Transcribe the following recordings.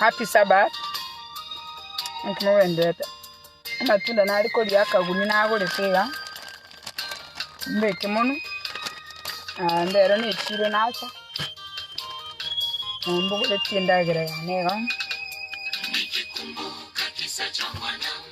Happy Sabbath. Mkimo wendete. Amatunda nari koria akaguni nagorete iga. Mbeke mono. Ah, ndero ne chiro nacha. Mbogore tiendagere yane iga.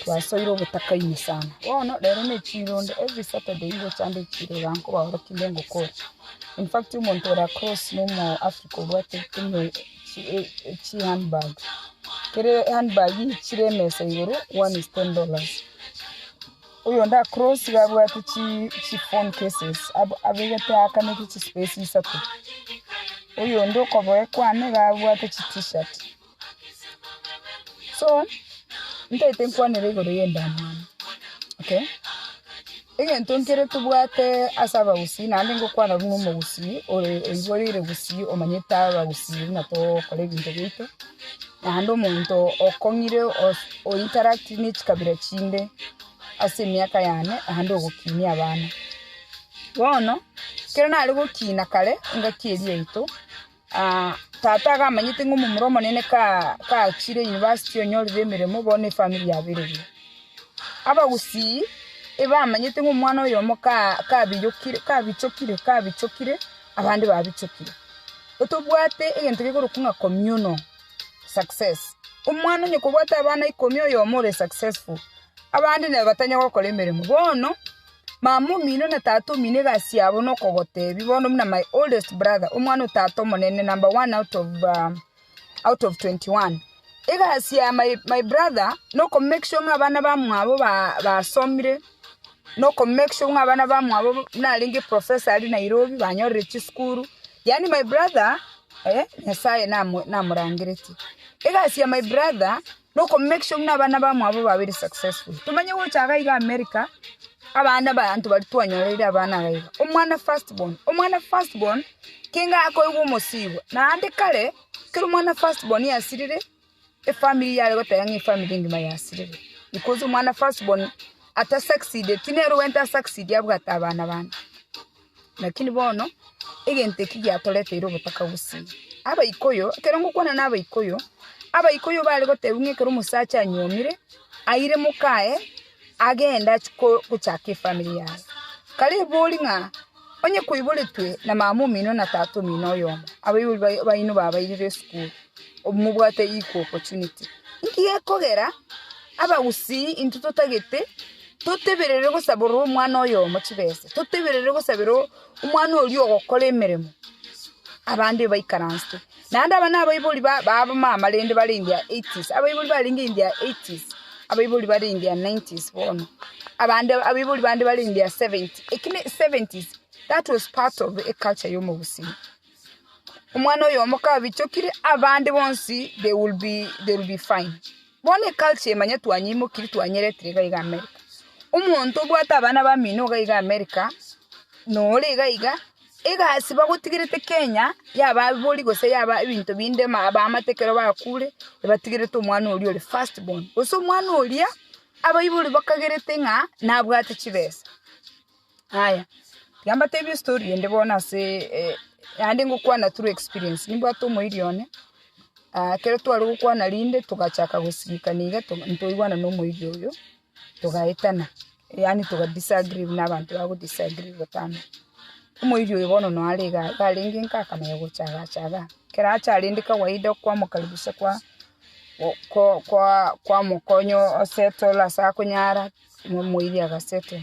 Twasoire obotaka ime sana. Bono rero ne chironda every Saturday ngocha ande chiroda nkobaorokia inde ngokora. In fact omonto ore across no omo Africa obwate chi handbag. Kere handbag chire emesa igoro one is ten dollars. Oyonde across iga abwate chi chi phone cases ab- abegete aka ne chi space isato. Oyonde okoboko kwane iga abwate chi t-shirt. So ntaete nkwanere igoro y'endamwamu okay egento nkere tobwate ase abagusii naende ngokwana buna omogusii ore oiboreire gusii omanyete abagusii buna togokora ebinto biaito naende omonto okong'ire os o interact ne chikabira chinde ase emiaka yane naende ogokinia abana bono ekero nare gokina kare engaki eria yaito. Tata agamanyete ng'a omomura omonene kachire university onyorire emeremo bo ne family yabereria. Abagusii ebamanyete ng'a omwana oyomo kabiyokire kabichokire kabichokire abande babichokire. Otobwate egento gekorokwa ng'a communal success. Omwana onye kobwate abana ikomi oyomo ore successful abande neba batanya gokora emeremo. Bono. Mama omino na tata omino egasi yabo nokogotebi bono buna my oldest brother omwana o tata omonene number one out of um, out of 21 egasi ya my, my brother noko make sure ng'a abana bamwabo ba- basomire noko make sure ng'a abana bamwabo narenge professor ari nairobi banyorire chisukuru yaani my brother eh, nyasaye namo- namorangeretie egasi ya my brother No ko make sure buna abana bamwabo babere successful. Tomanye gocha iga iga America, abana abanto baria twanyoreire abana iga iga. Omwana first born, omwana first born kenga akoigwa omosibwa. Naende kare, ekero omwana first born yasirire, efamiri yare goteba ng'a efamiri engima yasirire. Because omwana first born ata succeedeti nere ogwente a succeed abwate abana bande. Lakini bono egento eki giatoreteire obotaka gose Abaikuyu, ekero ngokwana na Abaikuyu, Abaikuyu bare gotebwa ng'a ekero omosacha anyuomire, aire mokaye, agende achie ko- gochaka efamiri yaye. Kare ebori ng'a onye koiboretwe na mama omino na tata omino oyomo, abaibori bai- baino babairire esukuru, obu- mobwate equal opportunity. Nki gekogera Abagusii intwe totagete Totebererire gosaborera omwana oyomo chibesa, totebererire gosabera omwana oria ogokora emeremo, abande baikaransete. Naende aba nabaibori ba abamama rende bare in their eighties, abaibori barenge in their eighties, abaibori bare in their nineties bono, abande abaibori bande bare in their seventy, eki ne seventies, that was part of eculture ya omogusii. Omwana oyomo kabichokire, abande bonsi they will be they will be fine. Bono eculture emanye twanyeimokiri twanyeretire iga iga America. Omonto obwate abana bamino iga iga America, nore iga iga, egasi bagotigerete Kenya yaba abori gose yaba ebinto binde ama abamate ekero bakure, ebatigerete omwana oria ore first born. Gose omwana oria, abaibori bakagerete ng'a nabwate chibesa. Aya, tiga mbatebie estory ende bono ase naende ngokwana through experience. Nimbwate omoiri one, ekero tware gokwana rinde togachaka gosilikana iga to- ntoigwana na omoiri oyio, togaetana, yaani toga disagree buna abanto bago disagree botambe. Omoiri oyo bono noyo are igaa iga arenge nka akamanya gocha igaa acha igaa. Ekero acha rende kawaida okwamokaribisha kwa- go- ko- kwa- kwamokonya o- osettle ase akonyara, na omoiri agasettle.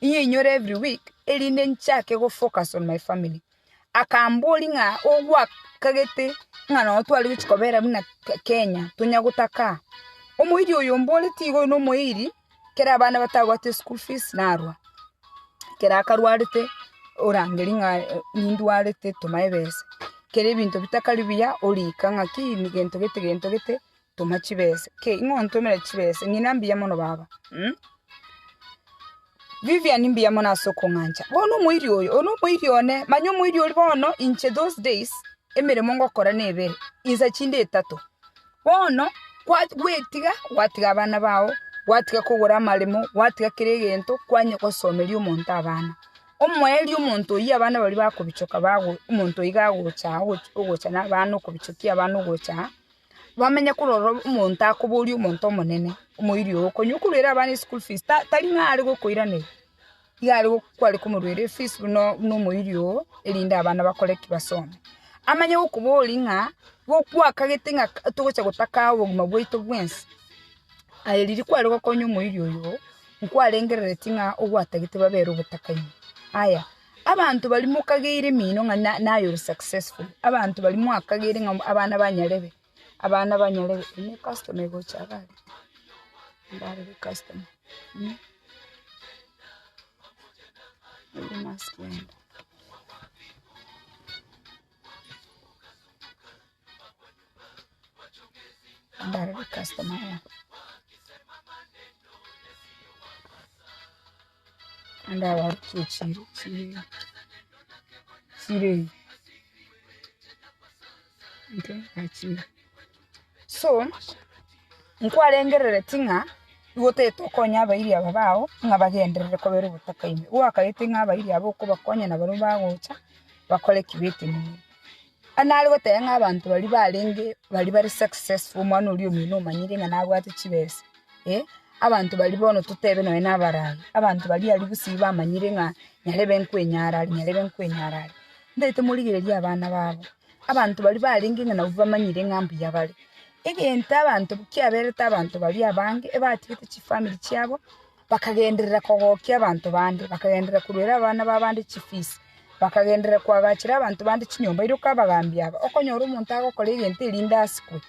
inyore every week erinde nchake go focus on my family. Akamboria ng'a ogwakagete ng'a nonye tware gochia kobera buna Kenya tonya gotaka aa. Omoiri oyo omboreti iga oyo no omoiri ekero abana batabwati school fees narwa ekero akarwarete orangeria ng'a nindwarete toma ebesa. Ekero ebinto bitakari buya orika ng'aki gento gete gento gete Toma chibese. Ki? Ing'o ontomere chibese? Ng'ina mbuya mono baba. Umm. Vivian mbuya mono ase okong'ancha. Bono omoiri oyo, oyo nomoiri one, manya omoiri oria bono inche those days emeremo ngokora ne ebere, insa chinde etato. Bono kwa gwetiga, gwatiga abana bao, gwatiga kogora amaremo, gwatiga kera egento, kwanya gosomeria omonto abana. Omoerio omonto oyio abana baria bakobichoka bago omonto oiga agocha agocha ogocha na abana okobichokia abana ogocha. bamenye korwa ororo omonto akoboria omonto omonene, omoiri oo, konywa okoruera abana eschool fees, ta tari ng'a are gokoiraneria, iga are go- kware komoruera efees buna buna omoiri oo erinde abana bakore ki basome. Amanye gokoboria ng'a go- gwakagete ng'a ka togocha gotaka obogima bwaito bwensi, aye riria kware gokonya omoiri oyo, nkwarengereretie ng'a ogwatagete babere obotakani. Aya. Abanto baria mokageire emino ng'a naye ore successful, abanto baria mwakageire ng'a abana ba nyarebe, abana ba nyarebe, erio ne customer egocha iga aria, ndarebe customer mh, erio nasiberia. so nkwarengerereti ng'a nigo otagete okonya abairi aba bao ng'a bagenderere kobera ogotaka ime. Gwakaete ng'a abairi aba okobakonya nabaria bagocha bakore ki? Betenene. Onye nare goteba ng'a abanto baria barenge baria bare successful omwana oria omino omanyete ng'a nabwate chibesa, eh, abanto baria bono totebe nonya na abarai, abanto baria aria gosii bamanyire ng'a nyarebe nkwenyara aria, nyarebe nkwenyara aria, mbaete morigererie abana babo, abanto baria barenge ng'a nabwo bamanyire ng'a mbuya bare. Egento abanto kiaberete abanto baria abange ebatigete chifamiri chiabo. Bakagenderera kogokia abanto bande, bakagenderera koruera abana b'abande chifiisi, bakagenderera koagachera abanto bande chinyomba. Iroko abagaambi aba, okonyora omonto agokora egento erinde asikwe.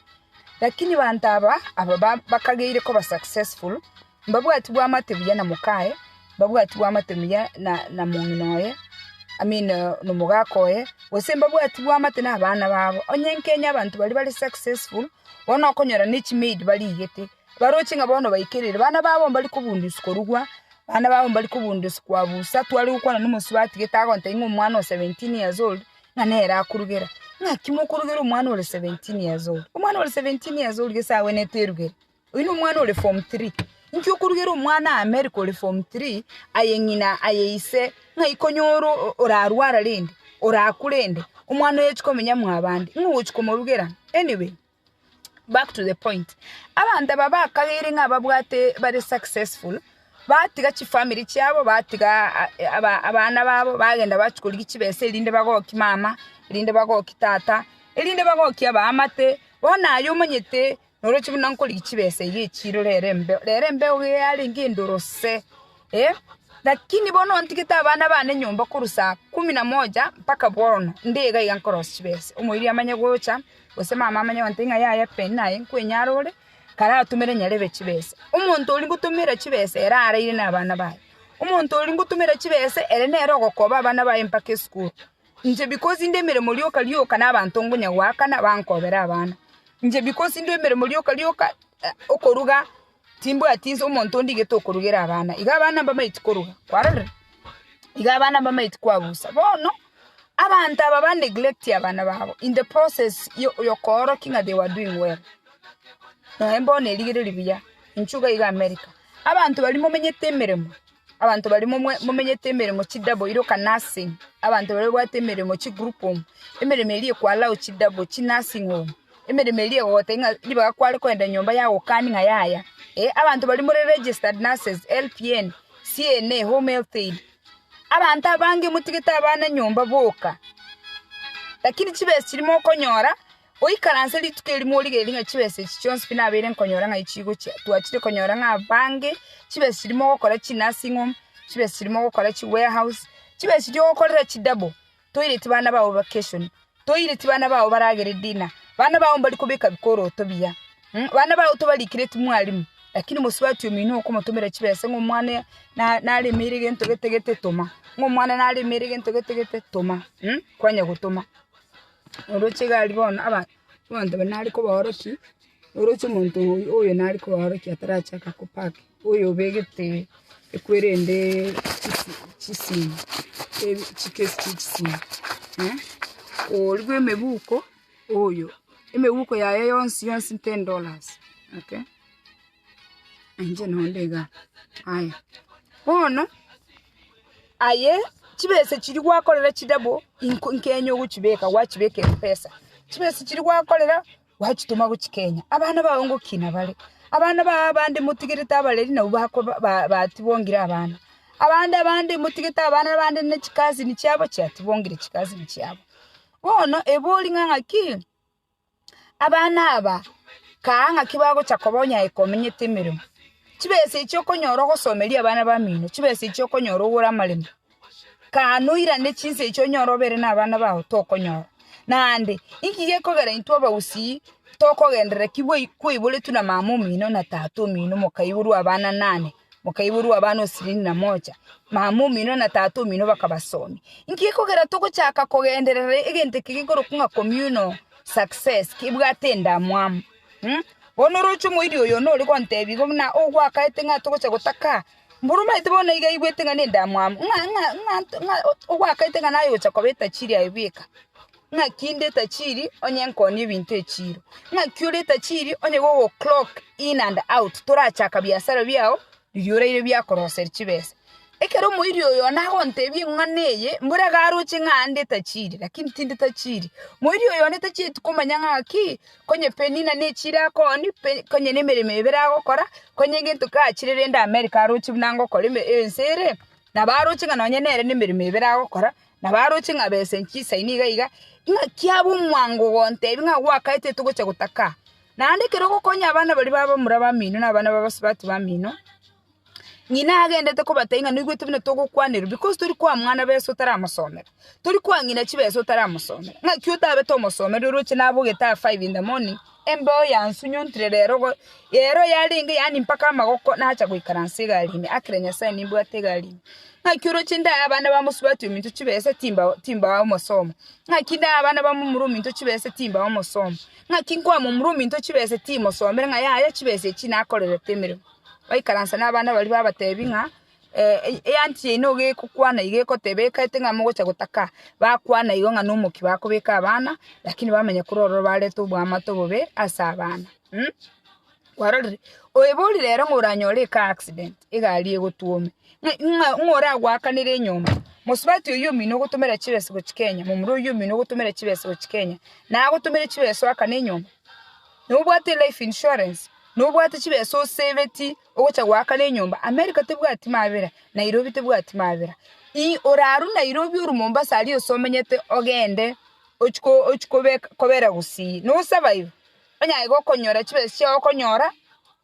Lakini abanto aba, aba bakageire koba successful, mbabwati bwamate buya na mokaye, mbabwati bwamate buya na na mong'ina oye, I mean nomogaka oye, gose mbabwati bwamate nabana babo. Onye nkenye abanto baria bare successful, bono okonyora ne chimaid barigete, Baroche ng'a bono baikerire, bana babo mbari kobundia korugwa, bana babo mbari kobundia ase koabusa, tware gokwana nomosubati gete agontebia ng'a omwana o seventeen years old ng'a nere akorugera. Ng'aki mokorugera omwana ore seventeen years old? Omwana ore seventeen years old gese agwenerete erugere? Oyio na omwana ore form three. Inki okorugera omwana aa America ore form three, aye ng'ina, aye ise, ng'a ikonyora orarwara rende, orakure rende, omwana oye ochi komenya mwabande, ng'o ogochi komorugera? Anyway. Back to the point, abanto aba bakageire ng'a babwate bare successful, batiga chifamiri chiabo, batiga abana babo, bagenda bachia korigia chibesa erinde bagokie mama, erinde bagokie tata, erinde bagokie abaamate, bono aye omonyete noroche buna nkorigia chibesa ebi echiro rero embeo, rero embeo iga yarenge endorose eh, lakini bono ontigete abana bane nyomba korwa saa kumi na moja mpaka bono, nde iga iga nkorosia chibesa, omoibi amanye gocha. gose mama amanye agontebia ng'a yaya peni naye nkwenyare ore, karatomere nyarebe chibesa. Omonto oria ngotomera chibesa ere araire nabana baye. Omonto oria ngotomera chibesa ere nere ogokoba abana baye mpaka esukuru. Inche because inde emeremo rioka rioka na abanto ngonya goakana bankobere abana. Inche because inde emeremo rioka rioka okoruga. Timbwati inse omonto onde igete okorugera abana. Iga abana mbamaeti koruga. Kwarorire? Iga abana mbamaeti koabusa. Bono, abanto aba ba neglect abana babo in the process yo yokoorokia ng'a they were doing well. Naende mbono erigererio riya, inchuo iga iga America. Abanto baria momenyete emeremo, abanto baria momwe momenyete emeremo chi double iroka nursing, abanto baria babwate emeremo chi group home, emeremo eria ekwa allow chi double chi nursing home. Emeremo eria egogotebia ng'a ribaga kware kogenda nyomba ya gokania ng'a yaya. Eh, abanto baria more registered nurses, LPN, CNA, home health aid, abanto abange motigete abana nyomba boka. Lakini chibesa chiria mokonyora, oikaranse rituko erio morigereria ng'a chibesa echi chionsi pi nabeire nkonyora ng'ai chigochia. Twachire konyora ng'a abange, chibesa chiria mogokora chi nursing home, chibesa chiria mogokora chi warehouse, chibesa chiria ogokorera chi double. toiretie bana bao vakeshoni, toiretie bana bao baragere dina, bana bao mbari kobeka bikoroto biya, bana bao tobarikire timwarimu, lakini mosubati omino okomotomera chibesa ng'a omwana naremeire gento gete gete toma, ng'a omwana naremeire gento gete gete toma, kwanya gotoma. Oroche iga aria bono abanto nare kobaorokia. Oroche omonto oyo nare koaorokia atarachaka kopack, oyo obegete ekwere ende chisemi, chikesi chie chisemi, oria bwe emebuko oyo, emebuko yaye yonsi yonsi ten dollars, okay, inche nonde iga, aya bono aye chibesa chiria gwakorera chidouble inko nkenya ogochibeka, gwachibeka empesa, chibesa chiria gwakorera. Gwachitoma gochia Kenya, abana bao ngoki nabare? Abana bao abande motigerete abareri nabwo bakoba batibongire abana. Abande abande motigerete abana na abande ne chikazini chiabo chiatibongire chikazini chiabo. Bono ebori ng'a ng'aki abana aba kaa ng'aki bagocha koba onye aye komenyete emeremo. Chibesa echio okonyora ogosomeria abana bamino, chibesa echio okonyora ogore amaremo. Kaa noirane chinsa echio onyore obeere nabana bao tokonyora. Naende, inki gekogera intwe abagusii tokogenderera ki bwai kwaiboretwe na mama omino na tata omino mokaiborwa abana nane, mokaiborwa abana osirini na moja, mama omino na tata omino bakabasomi. Inki gekogera togochaka kogenderera egento eke gekorokwa ng'a communal success kebwate endamwamu? Mh, bono oroche omoiri oyo nore gontebi igo buna ogwakaete ng'a togocha gotaka Mburumaiti bono iga aigwete ng'a ninde amwabo, ng'a ogwakaete ng'a naye ogocha koba etajiri aye bweka, ng'aki inde etajiri onye nkooni ebinto echiiro, ng'aki ore etajiri onye gogoclock in and out torachaka biasara biao riria oraire biakoroser chibesa. Ekero omoiri oyo one agontebia eng'wana eye, mbore iga aroche ng'a ande etajiri, lakini tinde tajiri. Moiri oyo one tachieti komanya ng'aki. Konye Penina ne chire akooni, konye nemeremo ebere agokora, konye egento kachire rende Amerika aroche buna ngokora ense ere, nabo aroche ng'a nonye nere nemeremo ebere agokora, nabo aroche ng'a besa enche chisaini iga iga, ing'aki abe omwango gontebia ng'a gwakaete togocha gotaka aa. Naende ekero ogokonya abana baria babe bamura bamino na abana babasubati bamino. Ng'ina agendete kobatebia ng'a noigwete buna togokwanerwa because tori koa mwana besa otaramosomera, tori koa ng'ina chibesa otaramosomera. Ng'aki otabete omosomeri oroche nabogete aa five in the morning, embeo yansunyontire rero igo, rero yarenge yaani mpaka amagoko nacha goikaransa egari ime, akire Nyasae nimbwate egari ime. Ng'aki oroche ndae abana ba mosubati ominto chibesa timbao timbao omosomo, ng'aki ndae abana ba momura ominto chibesa timbao omosomo, ng'aki nkoa momura ominto chibesa timosomere ng'a yaya chibesa echi nakorerete emeremo. baikaranse nabana baria babatebi ng'a eanchi eye nigo egokwana iga egoteba ekaete ng'a mogocha gotaka, bakwana igo ng'a nomokia bakobeka abana lakini bamanya korwa ororo barete oboamate obobe ase abana. Kwarorire? Oyo bori rero ng'a oranyore eka accident, egari egotwome, ng'a ng'a oragoakanere enyomba, mosubati oyio omino ogotomera chibesa gochia Kenya, momura oyio omino ogotomera chibesa gochia Kenya, naye agotomere chibesa oakane enyomba? Nobwate elife insurance? Nobwate chibesa osebeti ogocha goakana enyomba America tebwati mabera Nairobi tebwati mabera ii oraru Nairobi oru Mombasa aria osomenyete ogende ochiko ochiko kobera gusii no survive onyaye gokonyora chibesa chiao okonyora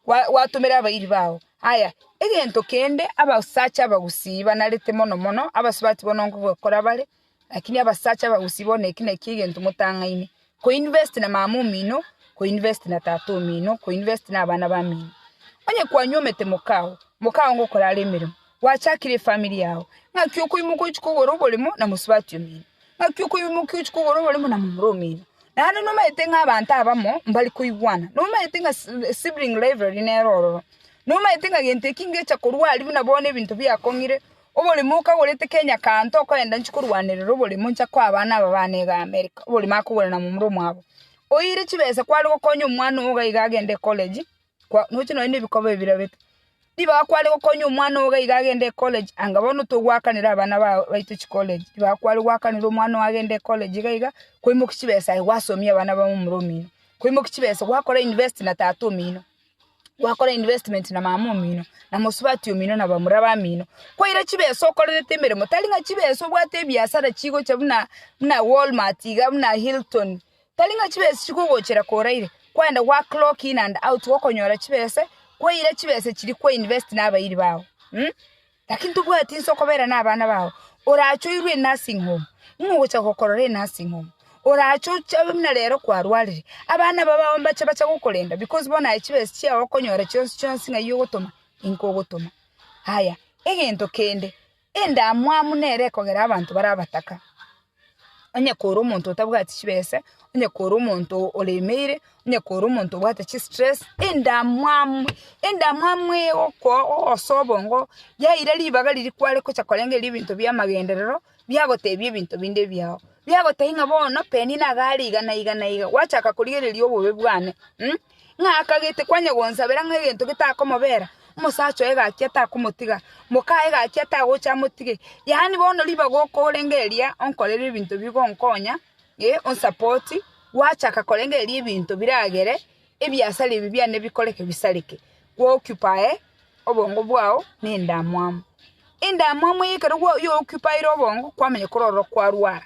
gwa gwatomera abairi bao aya egento kende abasacha abagusii banarete mono mono abasubati bono nkoba kora bare Lakini abasacha abagusii bono eki nakio egento motang'aine, Koinvest na mama omino, koinvest na tata omino, koinvest na abana bamino. Onye kwanyuomete mokao, mokao nigo okore are emeremo, gwachakire efamiri yao, naki okoimoka ochia kogora oboremo na mosubati omino, naki okoimoka ochia kogora oboremo na momura omino. Naende nomanyete ng'a abanto abamo mbari koigwana, nomanyete ng'a sibling rivalry nero ororo, nomanyete ng'a gento eki ngecha korwa aria buna bono ebinto biakong'ire. Oborimo okagorete Kenya kanto okoenda nchikorwanerera oborimo ncha koa abana aba bane iga America oborimo akogora na momura omwabo oire chibesa kware gokonya omwana ogo iga agende ecollege kwa noche nonye na ebikobo ebio birabete ribaga kware gokonya omwana ogo iga agende ecollege anga bono togwakanera abana ba baito chikollege ribaga kware gwakanera omwana ogo agende ecollege iga iga kwaimokia chibesa aye gwasomia abana ba momura omino kwaimokia chibesa gwakora invest na tata omino. gwakora investment na mama omino, na mosubati omino na bamura bamino, kwaira chibesa okorerete emeremo, tari ng'a chibesa obwate ebiasara chigocha buna buna Walmart iga buna Hilton, tari ng'a chibesa chikogochera koo oraire, kwaenda gwa clock in and out gokonyora chibesa, kwaira chibesa chiria kwa invest na abairi bago mh. Lakini tobwati inse okobera nabana bao, orache oirwe enursing home, nigo ogocha gokorora enursing home, orache oche abe buna rero kwarwarire, abana aba bao mbache bache gokorenda because bono aye chibesa chiao okonyora chionsi chionsi ng'ai ogotoma inko ogotoma. Aya, egento kende, endamwamu nere ekogera abanto bare abataka. onye kore omonto otabwati chibesa, onye kore omonto oremeire, onye kore omonto obwate chistress, endamwamu, endamwamu egokoo ogosoa obongo yaira ribaga riria kware gocha korengeria ebinto biamagenderero, biagotebia ebinto binde ebiao, biagotebia ng'a bono penina iga are iga na iga na iga, gwachaka korigereria obobe bwane. ng'a akagete kwanyagonsabera ng'a egento getakomobera, omosacha oye gaki atakomotiga, mokaye gaki atagocha amotige. Yaani bono ribaga okorenge eria onkorere ebinto bigonkonya, eh, onsupport, gwachaka korenge eria ebinto biragere, ebiasara ebi biane bikoreke bisareke, gwa occupy obongo bwao na endamwamu. Endamwamu eye ekero gwa- ya occupier obongo, kwamanya korwa ororo kwarwara.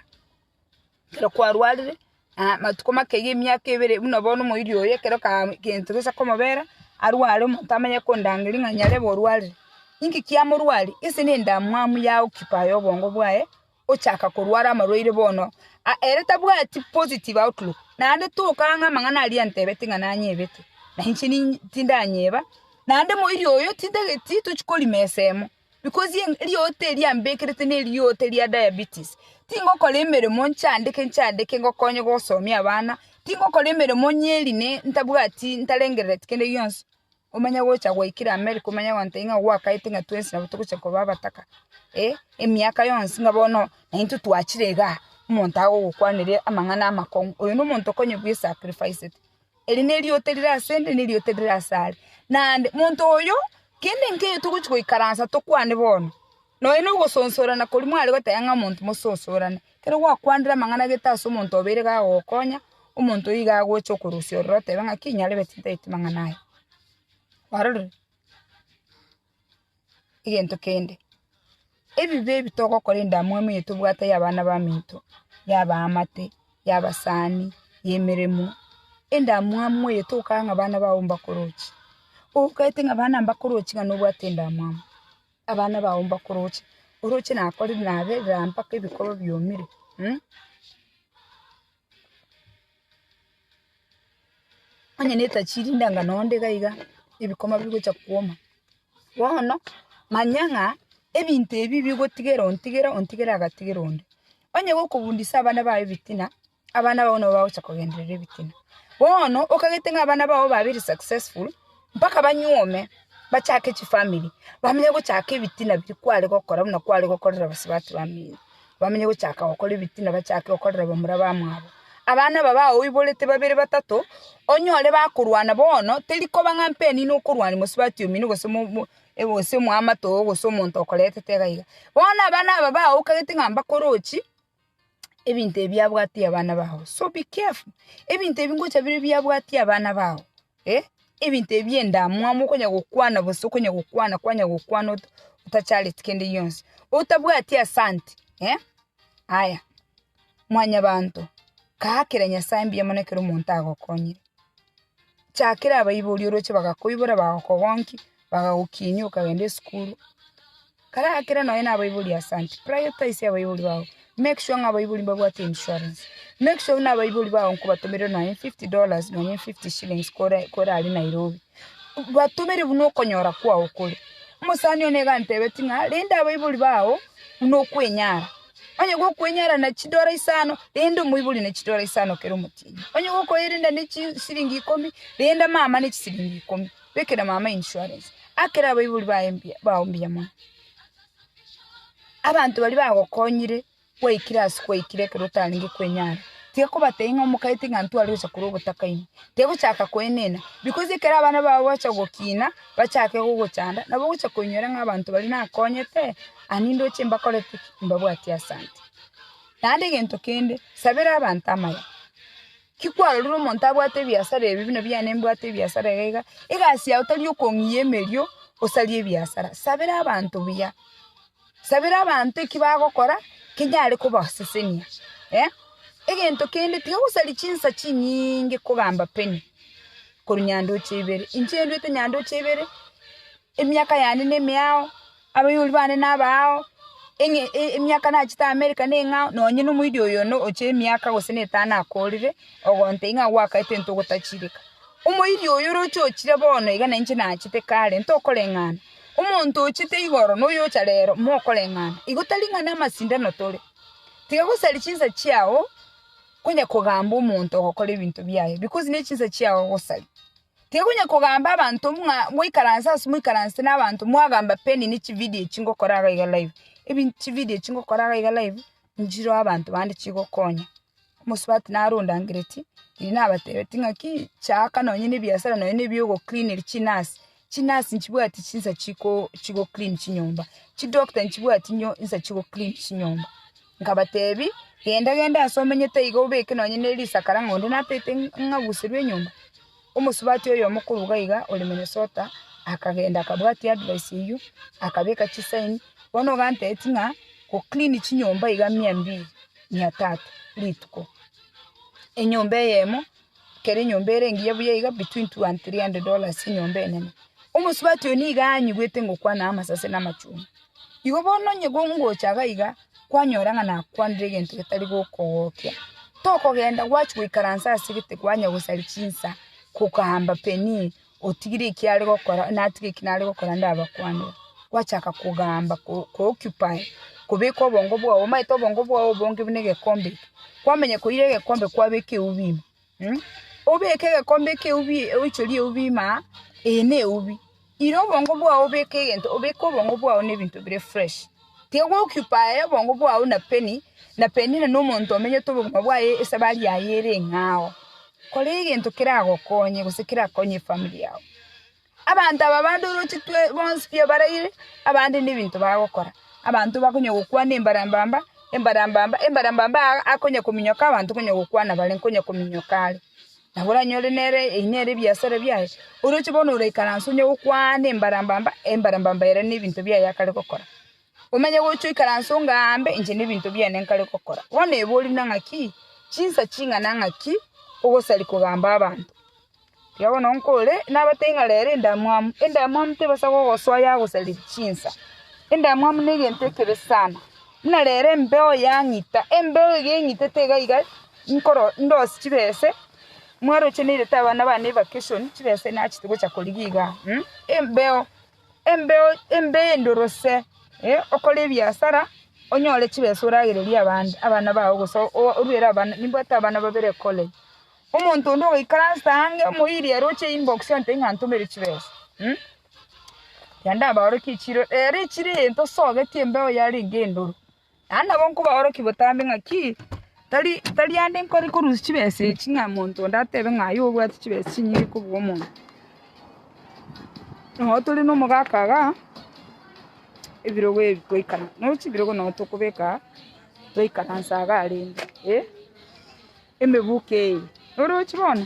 Ekero kwarwarire, amatuko make iga emiaka ebere, buna bono omoerio oye ekero ka gento gesa komobera, arware omonto amanye kondangeria ng'a nyarebe orwarire. Inki kiamorwaria? Ense ne endamwamu ya occupy obongo bwaye, ochaka korwara amarwaire bono, a- ere tabwati positive outlook, naende toka ang'e amang'ana aria antebete ng'a nanyebete, na inche ni- tindanyeba, naende omoerio oyo tindageti tochi korima esemo. Because eriota eria mbekerete neriota ria diabetes, tingokora emeremo nchandeke nchandeke ngokonye gosomia abana, tingokora emeremo nyeri ne ntabwati ntarengerereti kende gionsi, omanye gocha gwaikire America omanye gontebia ng'a gwakaete ng'a twensi nabo togocha koba abataka, eh emiaka yonsi ng'a bono naintwe twachire igaa, omonto agogokwanera amang'ana amakong'u, oyo nomonto okonye bwesacrificete. Eri neriota rire ase 'nde, na eriota rire ase are. Naende monto oyo, kende nkeyo togochia goikaransa tokwane bono, nonya nogosonsorana koria mware goteba ng'a omonto mososorane. Ekero gwakwanire amang'ana gete ase omonto obeire iga agogokonya, omonto oyio iga agocha okorusia ororo otebe ng'aki nyarebeti ntaeti mang'ana aya. Kwarorire? egento kende, ebibe ebi togokora endamwamu eye tobwate ya abana baminto, ya abaamate, ya abasaani, ya emeremo, endamwamu eye togokora ng'a abana bao mbakoroche. Obokaete ng'a abana mbakoroche ng'a nobwate endamwamu, abana bao mbakoroche, oroche nakorire naberera mpaka ebikorwa biomire. Onye netachirinde anga noonde iga iga, ebikoma bigocha kwoma. Bono, manya ng'a ebinto ebi bigotigera ontigere, ontigere agatigera onde. Onye gokobundisa abana bao ebitina, abana bao nabo bagocha kogenderera ebitina. Bono, okagete ng'a abana bao babere successful. mpaka banyuome, bachake chifamiri, bamenye gochaka ebitina biria kware gokora buna kware gokorera bosubati bamino, bamenye gochaka gokora ebitina, bachake gokorera bamura bamwabo. Abana aba baoiborete babere batato, onyore bakorwana bono, teri koba ng'a mpeni nokorwania mosubati omino gose mo mo gose omoamate oo gose omonto okoretete iga iga. Bono abana aba baokagete ng'a mbakorochi, ebinto ebi abwatie abana bao, so be careful, ebinto ebi ngocha bire ebi abwatie abana bao, eh, ebinto ebi endamwamu okonya gokwana bosi okonya gokwana kwanya gokwana ota otachareti kende gionsi, otabwati asante, eh, aya mwanyabanto, kaakera Nyasaye mbuya mono ekero omonto agokonyire, chakera abaibori oroche bagakoibora bagokogonki, bagagokinyia okagenda esukuru. Kare akera nonya nabaibori asante, prioritize abaibori bao, make sure ng'a abaibori mbabwate insurance, make sure ng'a abaibori bao nkobatomera nonya fifty dollars nonya fifty shillings kore kore aria Nairobi, batomere buna okonyora kwao kore. Omosani one iga antebetie ng'a rende abaibori bao buna okwenyara, onye igo okwenyara na chidora isano, rende omoibori na chidora isano kera omotienyi, onye igo okoerenda ne chisiringi ikomi, renda mama ne chisiringi ikomi. Bekera mama insurance akere abaibori baye mbuya bao mbuya mono. Abanto baria bagokonyire gwaikire ase gwaikire ekero otarenge kwenyara, tiga kobatebia ng'a omokaiti ng'a ntware gocha korwa ogotakaine, tiga gochaka koenena because ekero abana bao bagocha gokina, bachake gogochanda, nabo ogocha koinyora ng'a abanto baria nakonyete, aye nindoche mbakorete ki? mbabwatie asante. Naende egento kende, sabera abanto amaya. Tikwarorire omonto abwate ebiasara ebi buna biane mbwate ebiasara iga iga, egasi yao tari okong'iyia emerio osarie ebiasara. Sabera abanto buya, sabera abanto eki bagokora kenyare kobasesenia, eh. Egento kende tiga gosaria chinsa chinyinge kogamba penny korwa nyandoche ibere. Inche nduete nyandoche ibere. Emiaka yane nemeao, abaibori bane nabaao, emiaka nachete Amerika neng'ao, nonye nomoerio oyono oche emiaka gose netano akoorire, ogonte ng'a gwakaete intwe gotachireka. Omoerio oyo oroche ochire bono iga nainche nachete kare, ntokoreng'ana. Omonto ochete igoro noyocha rero, mokoreng'ana. Igo tari ng'a namasindano tore. Tiga gosari chinsa chiao, konya kogamba omonto ogokora ebinto biaye, because nechinsa chiao ogosari. Tigonya kogamba abanto ng'a moikaranse ase moikaranse nabanto mwagamba pi enini chividio echi ngokora iga iga live. Ebi chividio echi ngokora iga iga live nchireo abanto bande chigokonya. Omosubati naro ondangeretie riria nabatebetie ng'aki chaaka nonye ne ebiasara nonye ne ebio ogocleaniri chinurse. Chinurse nchibwati chinsa chiko chigoclean chinyomba. Chidoctor nchibwati inyo insa chigoclean chinyomba. Nkabateebia, Genda, genda aase omenyete iga obeke nonye ne risakara ng'a onde nateete ng'aguserwe enyomba. Omosubati oyomo korwa iga iga ore Minnesota akagenda akabwatia advice eyio, akabeka chisaini, bono iga anteeti ng'a go clean chinyomba iga mia mbili, mia tatu rituko. Enyomba eyemo, kera enyomba ere engiya buya iga between two and three hundred dollars enyomba enene. Omosubati oyo nigo aanyigwete ngokwana amasase na amachungwa. Igo bono onye ngocha iga iga, kwanyora ng'a nakwanire egento getari gokogokia, tokogenda gwachia goikaransa ase egete kwanya gosaria chinsa, kogaamba Penina, otigire eki are gokora, natige eki nare gokora ndabakwanere. Gwachaka kogaamba ko- ko occupy, kobeka obongo bwao, omanyete obongo bwao obonge buna egekombe eke, kwamanya koira egekombe kwabeka eubi ime. Obeke egekombe ekeubi oichorie eubi ime aa, eye neubi. Ira obongo bwao obeke egento, obeke obongo bwao nebinto bire fresh. Tiga gocupae obongo bwao na Penny, na Penny nere nomonto omenyete obogima bwaye esabari yaye ere eng'ao. Kora egento keragokonye gose kerakonye efamiri yao. Abanto aba bandorochetwe bonsi pi abaraire, abande nebinto bagokora. Abanto bakonya gokwana embarambamba, embarambamba, embarambamba aa akonya kominyoka abanto konya gokwana bare nkonya kominyoka are. Nabo oranyore nere eyio nere ebiasara biaye, oroche bono oraikaranse onye gokwana embarambamba, embarambamba ere nebinto biaye akare gokora. Omenye gochia oikaranse ongaambe inche nebinto biane nkare gokora. Bono ebe ori na ng'aki chinsa ching'ana ng'aki ogosaria kogamba abanto. Tiga bono nkore, nabatebi ng'a rero endamwamu, endamwamu tebasa gogosoa yagosaria chinsa. Endamwamu negento ekebe sana, buna rero embeo yang'ita, embeo iga eng'itete iga iga nkoro ndose chibese, mwaroche nairete abana bane evacation chibese nachia gocha korigia igaa, embeo. embeo embe endorose, okore ebiasara onyore chibesa oragererie abande abana bao gose oruere abana nimbwate abana babere college, omonto onde ogoikara nse ange omoiri ere oche inbox ontebie ng'a ntomere chibesa renda mbaorokie chiro ere chire egento osogetie embeo yarenge endoro Naende nabo nkobaorokia botambe ng'aki tari tari ande nkore korusia chibesa echi ng'a monto onde atebe ng'a aye obwate chibesa chinyinge kobua omonto. Nabo tore na omogaka iga, ebirogo ebi twaikara nabo chibirogo nabo tokobeka twaikaransa iga arenge, eh, emebuka eye, orochi bono?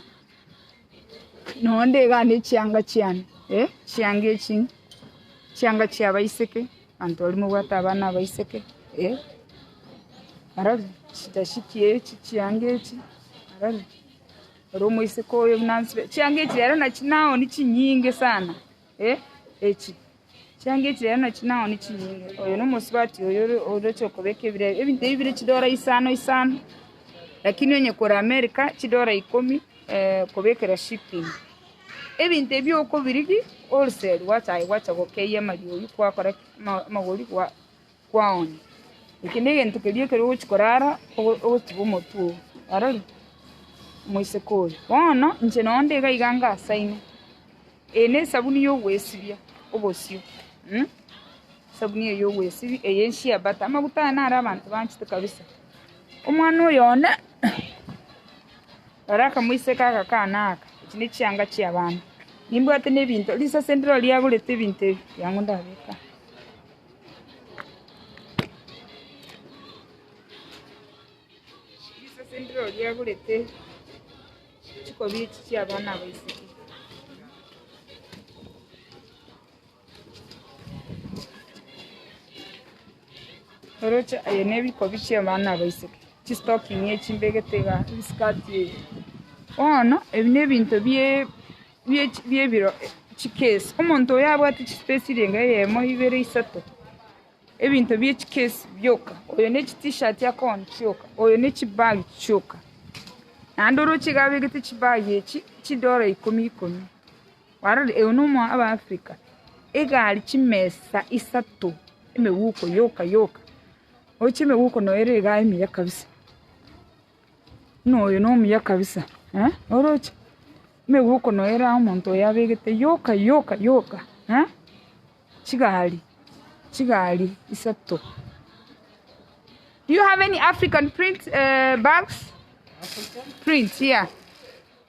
Nonya ndegane chianga chiane, ee, chianga echi chianga chi'abaiseke, abanto baria mobwate abana abaiseke, ee, barabwo, chidashiki echi, chianga echi, barabwo, ore omoiseke oyo buna nsibe, chianga echi ere nachi naoni chinyinge sana. E Echi chianga echi rero nachi nao nichinyinge, oyo nomosubati oyo ore- oroche okobeka ebirebe. Ebinto ebi bire chidora isano isano, lakini onye kore America, chidora ikomi kobekera shipping. Ebinto ebi okobirigia wholesale gwacha aye gwacha gokeyia amariogi kwakora ki? ama- amagori gwa. kwao. Eke negento keria ekero ogochia korara ogotiga omotwe oo, orore? Omoiseke oyo. Bono inche nonye nde iga ngasaime, eye nesabuni yogoesibia obosio, esabuni eye yogoesibia eye shea butter, amaguta aya naro abanto banchete kabisa. Omwana oyo one, rora akamoiseke agakana aka, echi nechianga chiabana. Nimbwate nebinto, risase ndiro riagorete ebinto ebi, riango ndabeke aa. Risesendire oria agurete chikobi echi chi'abana aba isiko. Oroche aye nebikobi chi'abana aba isiko, chistocking echi mbegete igaa, ebiskati ebi. Bono, ebi nebinto bie bi'ebiro chikesi, omonto oyo abwate chisipesi renga eyemo, ibere, isato, ebinto bie chikesi bioka, oyo ne chitishati akoona chioka, oyo ne chibagi chioka. Naende oroche iga abegete chibagi echi chidola ikomi ikomi. Kwarorire oyo nomoa abafrika, egari chimesa isato, emegoko yoka yoka, oroche emegoko noyo ere iga emiya kabisa. Noyo nomuya kabisa eh, oroche? Nigo okonoera omonto oye abegete yoka yoka yoka eh, chigari chigari isato. Do you have any African print bags? Print yeah.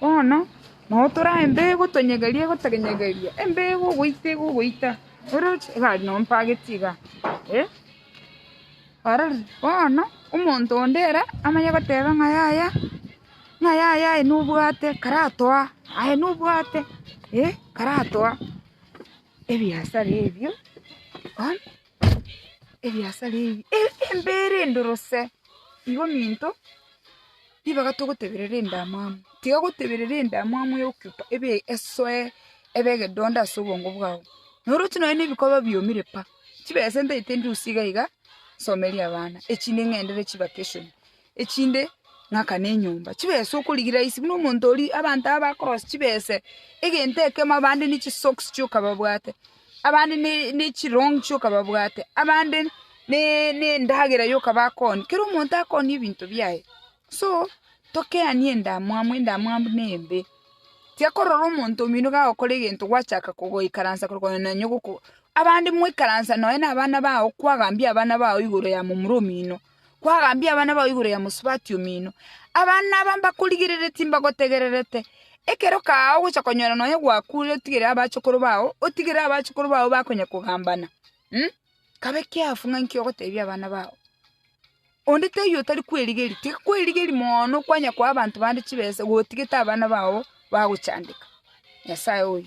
Bono nabo tore aye mbego tonyegeria egotonyegeria, embego ogoita iga ogoita, oroche egari noo mpageti iga eh. Ororo bono omonto onde ere amanye goteba ng'a yaya, ng'a yaya aye nobwate karatoa, aye nobwate eh karatoa ebiasara ebio bono. ebiasara ebi embere endorose igo minto ribaga togoteberera endamwamu tiga goteberera endamwamu ya occupy ebe esoe ebe egedondo ase obongo bwao na oroche nonya na ebikoba biomire pa chibesa ntaete ndusie iga iga nsomerie abana echinde ng'endere chivacation. echinde ng'akane enyomba chibese okorigia rahisi buna omonto oria abanto aba bakorosa chibese egento ekemo abande ne chisoksi chioka babwate abande ne chirongi chioka babwate abande ne ne endagera yoka bakoonia kera omonto akoonia ebinto biaye so tokeanie endamwamu endamwamu ne embe tiakorora omonto omino gagokora egento gwachaka kogoikaransa korokona nonye ogoko abande mwaikaransa nonye na abana bao kwagambia abana bao igoro ya momura omino. Kwagambia abana bao igoro ya mosubati omino. Abana aba mbakorigerere timbagotegererete. Ekero kaao ogocha konyora nonya gwakure otigere abachokoro bao, otigere abachokoro bao bakonya kogambana. Hm? Kabe kiafu ng'a nki ogotebia abana bao. Onde teiyo otari kwerigeria, tiga kwerigeria moono kwanya koa abanto bande chibesa gotigete abana bao bagochandeka. Nyasae oyo.